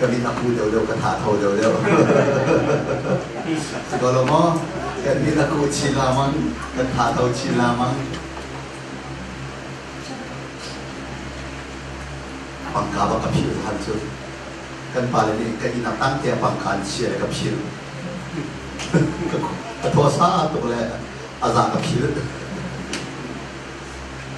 Ka mit a pu deuhdeuh, ka tha tho deuhdeuh. Si ko lo maw? Kan mit a ku chin lamang, kan tha tho chin lamang. Pangka bak ka phil han cu. Kan pale nih ka inn a tang te pangka an chia le ka phil. ka ka thua sa tuk le a za ka phil.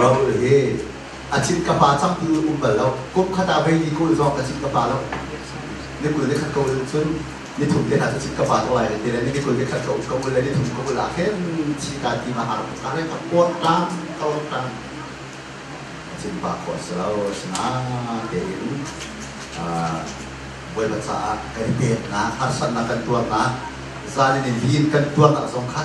Raul hi a cit ka pa cang ti um bal lo. Kum khat ah vei li kul zong a cit ka pa lo. Ni kul ni khat ka ul cun ni thum te hna cu cit ka pa ko lai le ti le ni kul ni khat ka ul ka ul le ni thum ka ul ah khin chi ka ti ma har ka le ka kuat tang ka ul tang cin pa ko si lo asinain tein bawipa caah kan peknak harsatnak kan tuarnak zan in lin kan tuarnak zong kha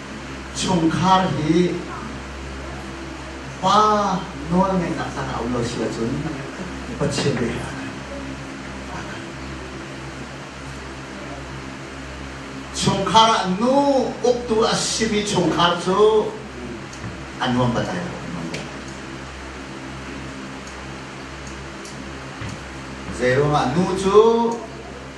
chungkhar hi pa nawlngeihnak tlang ah um lo si ahcun Pathian nih a kan chungkhar ah nu uktu a simi chungkhar cu a nuam batai lo zeiruangah nu cu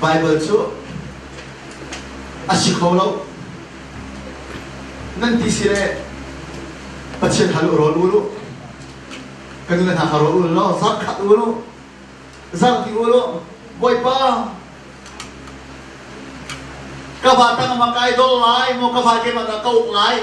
Baibal cu a si kho lo. Nan ti si le Pathian hal u rawl u lu. Kan nu le hna kha rawl u law zar khat u lu. Zar ti u lu. Bawipa ka va tang ma kai dol lai maw ka va ke ma da kau lai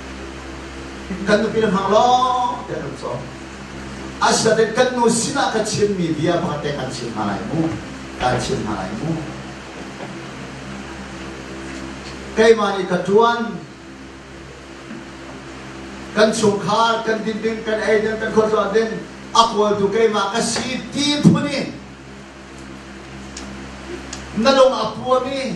kan nupi nan hang lawng tiah kan sawm asinain kan nu sinah ka chimmi bia bang te kan chim hna lai mu kan chim hna lai mu keimah nih ka tuan kan chungkhar kan dinding kan eidin kan khuazuan ding a kawltu keimah ka si ti phun in na dong a puam i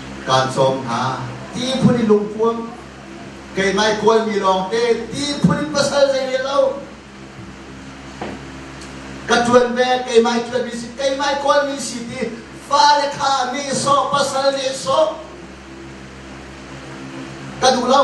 kaan sawm hna. Ti phun in lungpuam, keimah kualmi lawngte, ti phun in pasal zei rel lo. Ka tuan ve, keimah tuanmi si, keimah kualmi si ti, fale kha nehsawh, pasal nehsawh. Ka duh lo.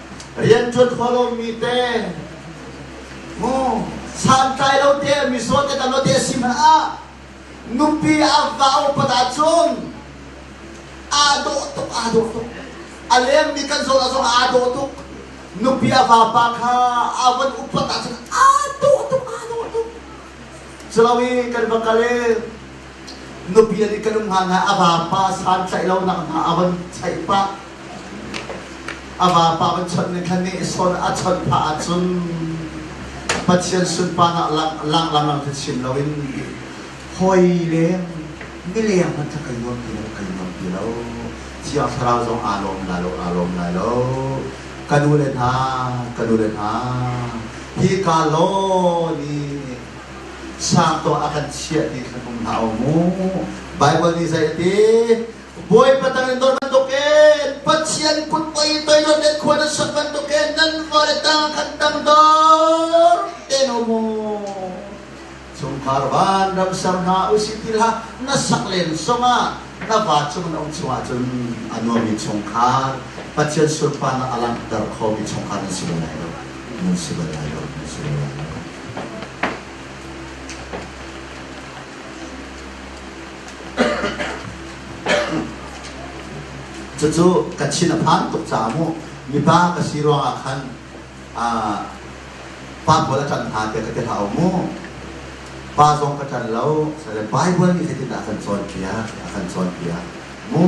rianṭuan kho lomi te mu santlai lo te mi so te tan lo te si ma ah nupi avva upata cun aa dawh tuk aa dawh tuk a leng mi kan zawn azong aa dawh tuk nupi ava pa kha avan upat ah cun aa dawh tuk aa dawh tuk culawi kan va kal Nupi an i kan um hna hna a vapa san tlaih lonak hna a van tlaih pah a vapa van chawnh ne khan nih sawn a chawnh phah ahcun Pathian sunpan ah lang lang lang lang chin loin hoi leng mileng hmanh kha kai nuam ti lo kai nuam ti lo thiang thlarau zong aa lawm la lo aa lawm lai lo ka nu le hna ka nu le hna hi ka law ni sang tuah a kan chiah ti khan um hna u mu Bible nih zei a ti bawi patang in don bantuk e pathian put poi toi don den khua na sak bantuk e nan fale tang kan tang dor te no mu chungkhar van ram ser hna usih ti ha na sak len songah na va chung na um chungah cun a nuami chungkhar pathian surpa na alang ter kho mi chungkhar na si balai lo na si balai lo na si balai lo Cucu ka thin a phan tuk caah mu mipa ka si ruangah khan pa pawl a ṭan hna tiah ka ti hlah mu pa zong ka ṭan lo salle Bible nih zeitindah a kan cawnpiak a kan cawnpiak mu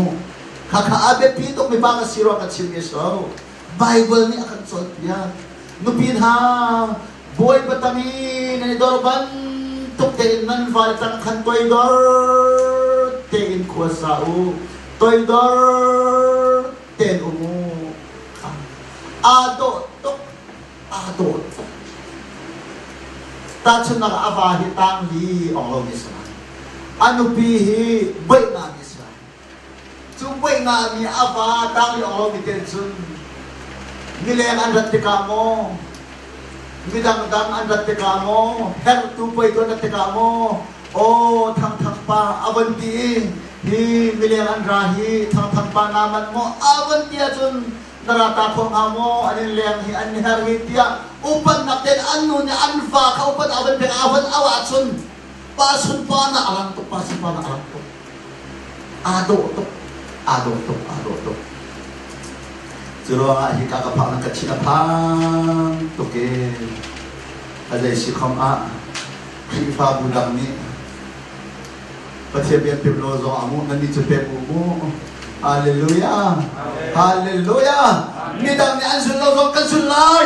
khakha a biapi tuk mipa ka si rua ka chim is lo Baibal nih a kan cawnpiak. Nupi hna, Bawipa tang i nan i dor bantuk tein nan vale tang khan toidor tein khua sa u. Toidor tein um u. Aa dawh tuk. Aa dawh tuk. Tahchunnak ah, a va hi tang li ong lomi a si lai. A nupi hi beihnak Cu puai nga mi a va tang aw titen cun mileng an rat tikah maw midang dang an rat tikah maw hertu puai tu an rat tikah maw aw thang thang pa a van ti i hi mileng an ra hi thang thang pa na mat maw a van ti ahcun na rata kho hnga maw an in leng hi an her hi tiah upannak ten an nu nih an fa kha upan a van pek a van awa chun Pa sun pa na a rang tuk, pa sun pa na a rang tuk. Aa dawh tuk, aa dawh tuk, aa dawh tuk. Cu ruangah hika ka phak na ka thi a phang tuk e. A zei si khom ah Khrihfabu dang nih Pathian biakpim lo zong a nguh, nannih cu pek u mu. Hallelujah! Hallelujah! Midang nih an zul lo zong kan zul lai.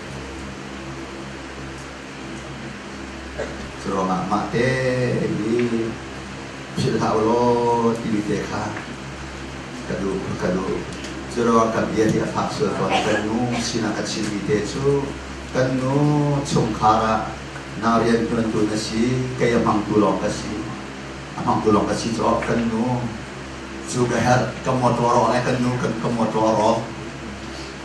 Curuangah mahte i philh hlah ulaw timi te kha ka duh ka duh. Curuang kan bia hi a fak sual fawn. Kan nu sinah ka chimmi te cu kan nu chungkhar ah na rianṭuantu na si, kei a hmangtu lawng ka si. A hmangtu lawng ka si caah kan nu cu ka herh, ka mawṭaw rawh le kan nu kan ka mawṭaw rawh.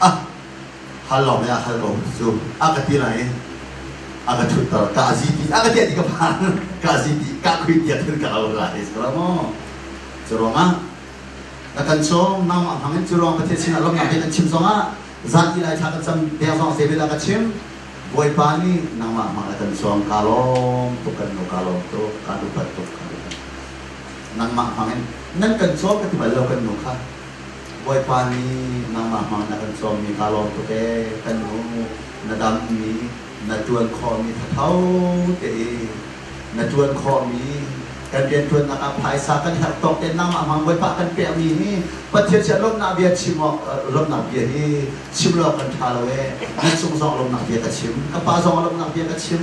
A hal lawng le a hal lawng cu a ka ti lai i a ka thutter ka a ziti a ka tiah ti ka phan ka a ziti ka khui tiah thil ka lo ra hei sura maw cu ruangah ka kan chawm nau ma hmangin cu ruang pathian sinah lawmnak he kan chim zongah zan i lai thla ka cam deng zong se vela ka chim bawipa nih nangmah hmang a kan chuang ka lawm tuk kan lo ka lawm tu ka dupat tuk ka dupat nangmah hmangin nan kan chaw ka ti bal lo kan nu kha Bawipa nih nangmah hmang na kan cawmmi kaa lawm tuk ee, kan nu na dammi na ṭuan khawhmi thatho te i na ṭuan khawhmi kan rianṭuannak ah phaisa kan herh tawk tein nangmah hmang Bawipa kan pekmi hi Pathian sia lawmhnak bia chim awk lawmhnak bia hi chim lo kan ṭha lo ee na cung zong lawmhnak bia ka chim ka pa zong lawmhnak bia ka chim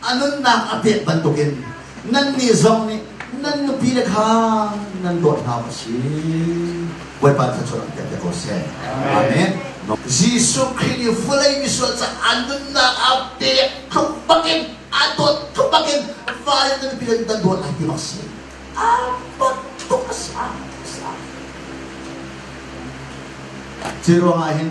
a nunnak a pek bantukin nannih zong nih nan nupile kha nan dawt hna u si bawipa thluachuah an pek ko seh amen Jesuh Khrih nih vawlei misual ca an nunnak a pek tluk bakin a dawt tluk bakin vale nan nupile nan dawt lai ti bak si a dawt tluk a si a si a si ruangah hin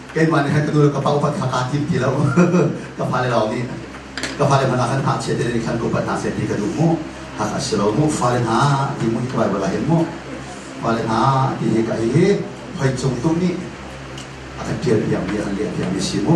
keimah nih khan ka nu le ka pa upat kha kaa tim ti lo ka fale lawng nih ka fale hmanh ah khan hngak chia te nih khan ka upat hna seh ti ka duh mu hak a si lo mu fale hna ti mu hi Bible ah hin mu fale hna ti hi ka hi hoi cung tum nih a kan pial piang mi an liah piang mi si mu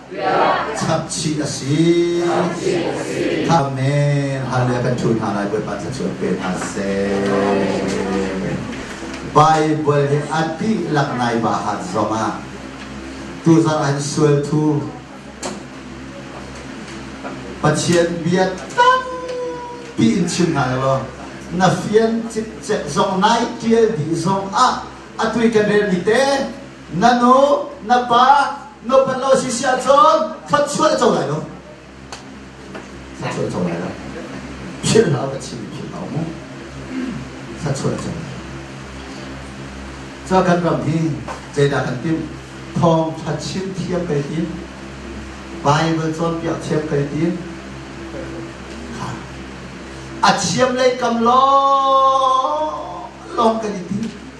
Chapchih a si. Amen. Hallelujah kan thul hna lai Bawipa ca cu pe hna seh. Bible hi a dihlak nai bahat zongah tuzarh an sual thu Pathian bia tampi in chim hna law na fian cikcek zong nai tial dih zong ah a tui kan rel mi te Na nu, na pa, nupat lo si si ahcun thluachuah co lai lo. Thluachuah co lai lo. Philh hlah, ka chim philh hlah mu. Thluachuah co lai Cho kan ram hi zeidah kan tim? Thawngtha chim thiam kai tim. Bible cawnpiak thiam kai tim. A thiam lei kam lawng lawng kan i tim.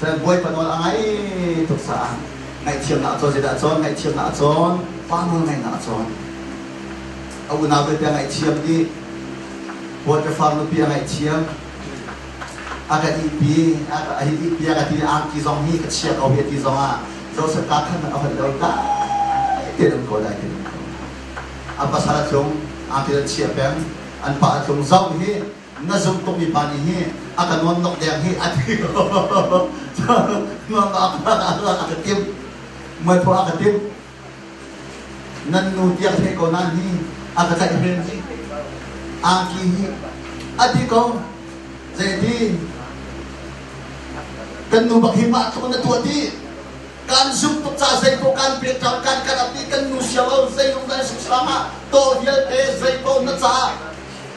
Cun bawipa nawl a ngai tuk caah ngaihthiamnak a cawn zeidah a cawn ngaihthiamnak a cawn pa nawl ngaihnak a cawn a unau vialte a ngaihthiam dih bawipa far nupi a ngaihthiam a kan ihpi a ka ihpi a ka ti angki zong hi ka chia ko hi ti zong ah Joseph ta khan a hon lo dai te nan ko dai te nan ko a pasal a tlung angki an chia peng an pa a tlung zong hi Na zumh tukmi pa nih hi a ka nuam nok deng hi a ti Mang a ka ka tim Muai phu a ka tim Nan nu tiang thei ko na ni A ka tlaih men hi Angki hi A ti ko Zeiti Kan nu bak hi mah tluk na tuah ti kan zumh tuk ca zei ko kan pet cang kan kan ati kan nu siam au zei lung dan sik sang ah to hial pe zei ko na ca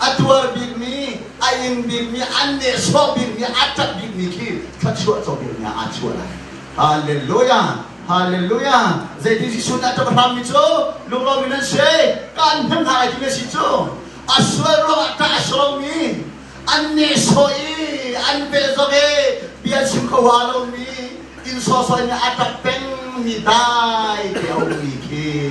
a tuar bikmi a ing bikmi an nehsawh bikmi a ṭap bikmi khi thluachuah co bikmi aa chuah lai halleluja halleluja zeitin Jesuh nih a ṭap hrammi cu lunglomi nan si kan hnem hna lai ti na si cu a sual ruangah ṭah a sawmi an nehsawh i an behzog i bia chim kho ha lomi inn sawsawih nih a ṭap pengmi dai te a ummi khi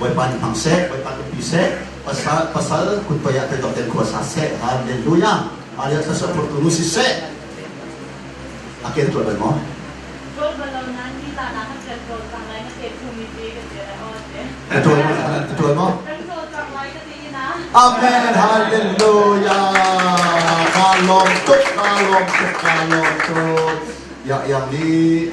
Bawipa nih hmang seh, Bawipa nupi seh, pasal kutpei ah teidok ten khua sa seh, Halleluja, Alia thlasua phurtu nu si seh. A ken tuah lai maw? Tuan maw? Amen, hallelujah. Ka lawm tuk, ka lawm tuk, ka lawm tuk. Ya yang ni.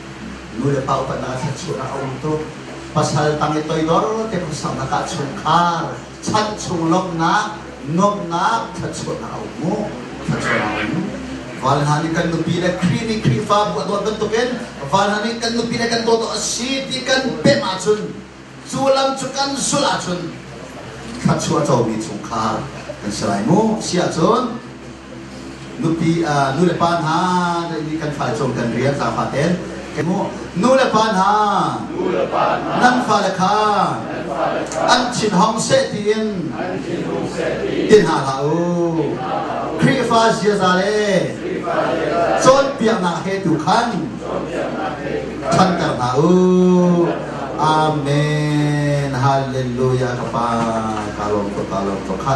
Nu le paupan ah thluachuah a um tuk. Pasal tang i toidor te khuasak ah chungkhar, chan chung lawmhnak, nuamhnak, thluachuahnak a um mu. Thluachuah a um. Val hna nih kan nupi le Khrih nih Khrihfabu a dawt bantukin val hna nih kan nupi le kan dawt a si ti kan pemh ahcun cu lam cu kan sulh ahcun thluachuah comi chungkhar kan si lai mu. Si ahcun Nupi, uh, nu le pa hna, ni kan fale cung kan rian za faten. Nu le pa hna, nan fale kha an thin hong seh tiin i hna hlah u. Khrihfa ziaza le cawnpiaknak he tu khan ṭhanter hna u. Amen. Hallelujah ka pa. Ka lawm ka ka lawm ka kha.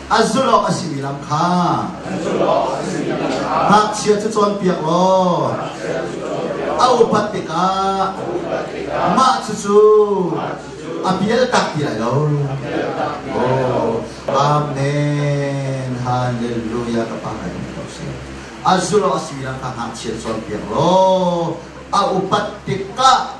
An zulh awk a simi lam kha ngakchia cu cawnpiak law a upat tikah mah cucu a bialtak ti lai lo. Oh, Amen. Hallelujah. Ka pa ngai ko si. A zulh awk a simi lam kha ngakchia cawnpiak law a upat tikah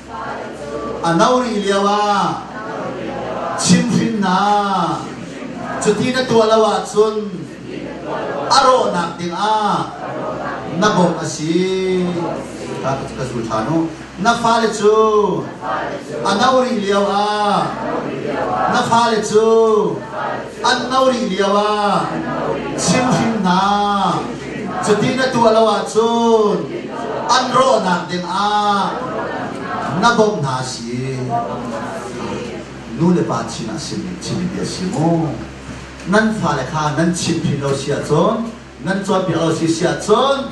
A no rih lioah chimhrinnak cuti na tuah lo ahcun a rawhnak dingah na bawmh a si. Ka zul ṭhan u. Na fale cu a no rih lioah na fale cu an no rih lio ah chimhring hna cuti na tuah lo ahcun an rawhnak ding ah na bawmh hna si nu le pa sinah simi chimmi bia si mu nan fale kha nan chimhrin lo si ahcun nan cawnpiak lo si si ahcun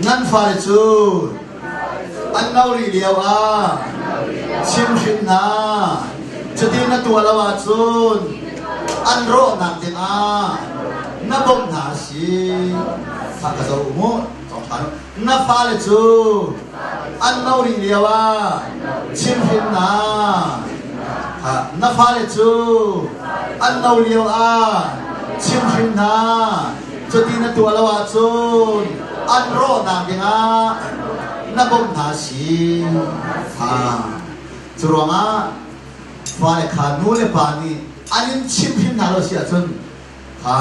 Nan fale cu an no rih lio ah chimhrin hna. Cuti na tuah lo ahcun an rawhnak dingah na bawmh hna a si. Thla ka zoh u mu thawngthang. Na fale cu an no rih lio ah chimhrin hna. Na fale cu an no lio ah chimhrin hna. Cuti na tuah lo ahcun an rawhnak dingah na bawmh hna si kha. Curuangah fale kha nu le pa nih an in chimh hrim hna lo si ahcun kha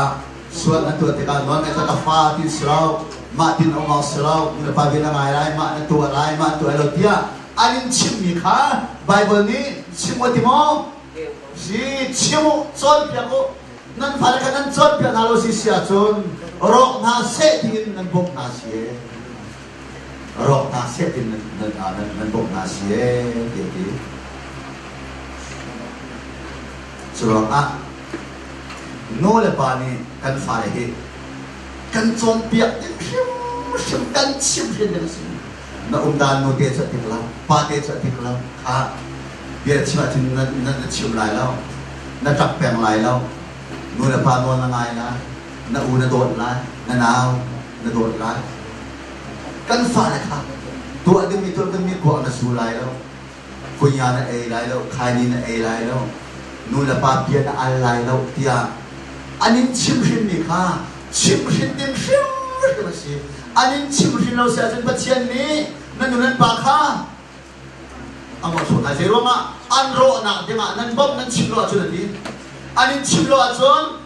sual na tuah tikah nawl ngai ka fa ti si lo mah tin um awk si lo nu le pa vel a ngai lai mah na tuah lai mah na tuah lai lo tiah an in chimmi kha Baibal nih chim u ti maw si chim u cawnpiak u nan fale kha nan cawnpiak hna lo si si ahcun rawk hna seh tiin nan bawmh hna si e rawk hna seh tiin nan nan, ah, nan, nan bawmh hna si e ti ti curuangah nu le pa nih kan fale hi kan cawnpiak ding hrimhrim kan chim hrin ding a si na umdan nute cu a ting lo pate cu a ting lo kha bia chim ahcun na, na, na chim lai lo na ṭap peng lai lo nu le pa nawl na ngai lai na u na dawt lai na nau na dawt lai kan fale kha tuah dingmi tuah dingmi tuah na su lai lo Kunya na ei lai lo, thaini na ei lai lo, nulepa bia na al lai lo tiah an in chimhrinmi kha chimhrin ding hrimhrim a si. An in chimhrin lo si ahcun Pathian nih na nu nan pa kha a ngawchuk hna. Zei ruangah an rawhnak dingah nan bawmh nan chim lo ahcun a ti. An in chim lo ahcun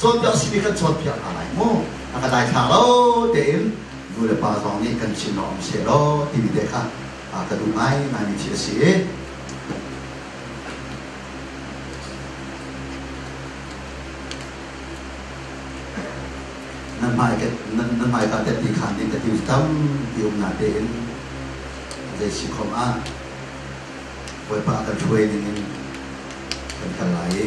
Cawn deuh si nih kan cawn piak hna lai mu. A ka daithlang lo tein nu le pa zong nih kan chim lo um se lo timi te kha a ka duh ngai ngaimi thi a si i nan hmai ka nan nan hmai ka te ti khan ning ka ti tam ti um na te in zei si khom ah Bawipa kan thuai ning in kan kal lai i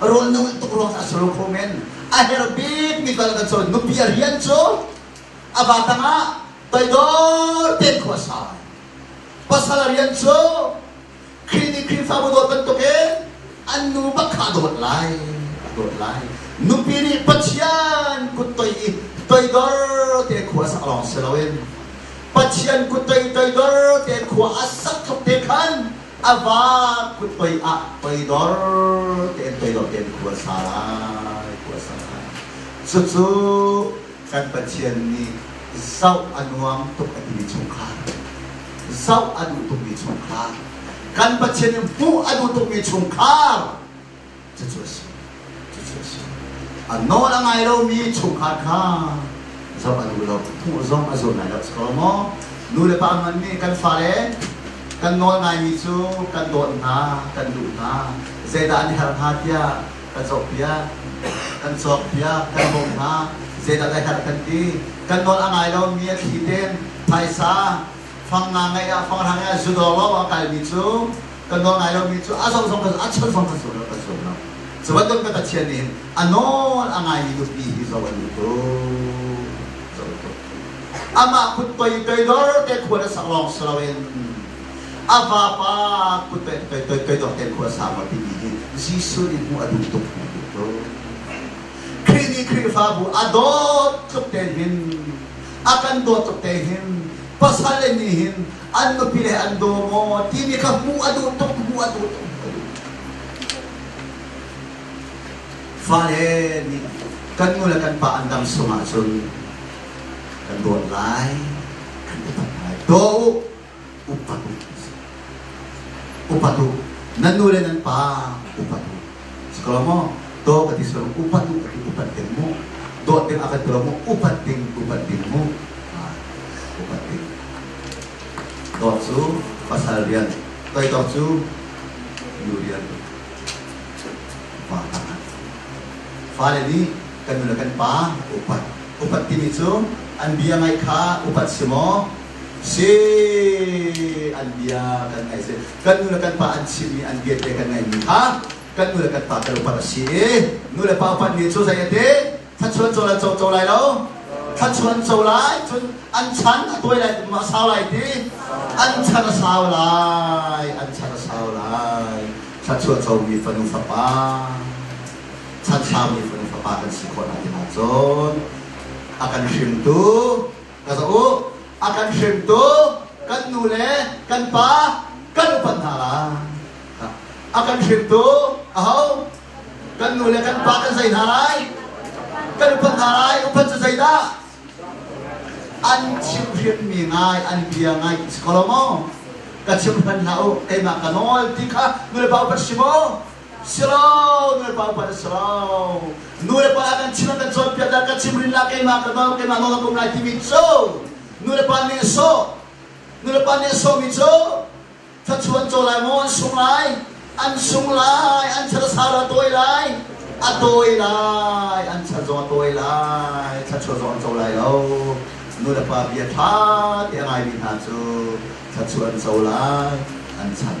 rawl na ulh tuk ruang a salo kho men a her bik mi tal kan col nupi a rian cu a ba tangah toidor ten khua sa pasal rian cu clinic khrihfabu dawt bantuk in an nu bakha dawt lai dawt lai nupi nih pathian kut toi i toidor te khua sak long si loin pathian kut toi toidor te khua a sak khop te khan a va kut pei ah pei dor tein pei dor tein khua sa lai khua sa lai cucu kan pathian nih zoh a nuam tuk a timi chungkhar zoh a duh tukmi chungkhar kan pathian nih hmuh a duh tukmi chungkhar cucu a si. Cucu a si. A nawl a ngai lomi chungkhar kha zoh a duh lo. Phung zong a zum lai lo. Si ko maw? Nu le pa hmanh nih kan fale kan nawl ngaimi cu kan dawt hna, kan duh hna. Zeidah an herh hnga tiah kan cawkpiak, kan cawkpiak, kan bawmh hna. Zeidah ka herh kan ti. Kan nawl a ngai lomi a thli tein phaisa, fang nga ngeih ah fang rang ah zudawr lo a kalmi cu kan nawl ngai lomi cu a zong zong kan a chan zong kan zul kan zul lo cu bantuk ka Pathian nih a nawl a ngaimi nupi hi zoh an duh ko zoh ko amah kut pei toidor te khuan a sak lawng si loin a vapa kut pei toidor te khuan a sak lo timi hi Jesuh nih hmuh a duh tuk hmuh duh ko Khrih nih Khrihfabu a dawt tluk tein hin a kan dawt tuk te hin pasal le nih hin an nupi le an daw maw timi kha hmuh a duh tuk hmuh a duh tuk fale nih kan nu le kan pa an dang sung ahcun kan dawt lai kan i dawt lai daw upatu nan nu le nan pa upatu si ko maw do ka ti sawm upatu ka ti upat ding mu dawt ding akan telo mu upat ding upat ding mu upat ding dawt cu pasal rian toi dawt cu nu rian pa fale nih kan nu le kan pa upat upat timi cu an bia ngai kha upat si maw Si an bia kan ngaih si. Kan nu le kan pa an chimmi an bia te kan ngaihmi kha kan nu le kan pa kan upat a si i nu le pa upat nih cu zei a te thluachuan co lai co co lai lo thluachuan co lai cun an chan a tawi lai tum a sau lai ti an char a sau lai an char a sau lai thluachuan comi fanu fapa chan saumi fanu fapa kan si khawh lai ti cun a kan hringtu Ka zoh u, a kan hringtu kan nu le kan pa kan upat hna lai. A kan hringtu aho kan nu le kan pa kan zei hna lai? Kan upat hna lai, upat cu zeidah? An chimhrianmi ngai, an bia ngai si ko lo maw? Ka chimhran hlah u, keimah ka nawl ti kha nulepa upat si maw? Siro nulepa upa le siro nulepa ah kan chim kan cawnpiak dah kan chim rinla keimah ka nawl keimah nawl a pum lai timi cu nulepa nih a sawh nulepa nih a sawhmi cu thachuan caw lai maw an sung lai an sung lai an thara sara tawi lai a tawi lai an thar zong a tawi lai thachuan zong an co lai lo nulepa bia ṭha ti a ngaimi hna cu thachuan co lai an chan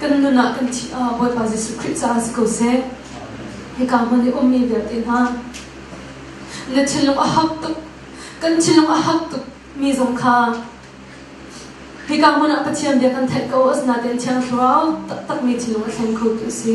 Kan nun ah kan thih ah Bawipa Jesuh Khrih caah si ko seh. Hika hmun i ummi vialte hna, na thinlung a hak tuk, kan thinlung a hak tuk mi zong kha hika hmun ah Pathian bia kan theih ko asinain Thiang Thlarau taktakmi thinlung a thleng khotu a si.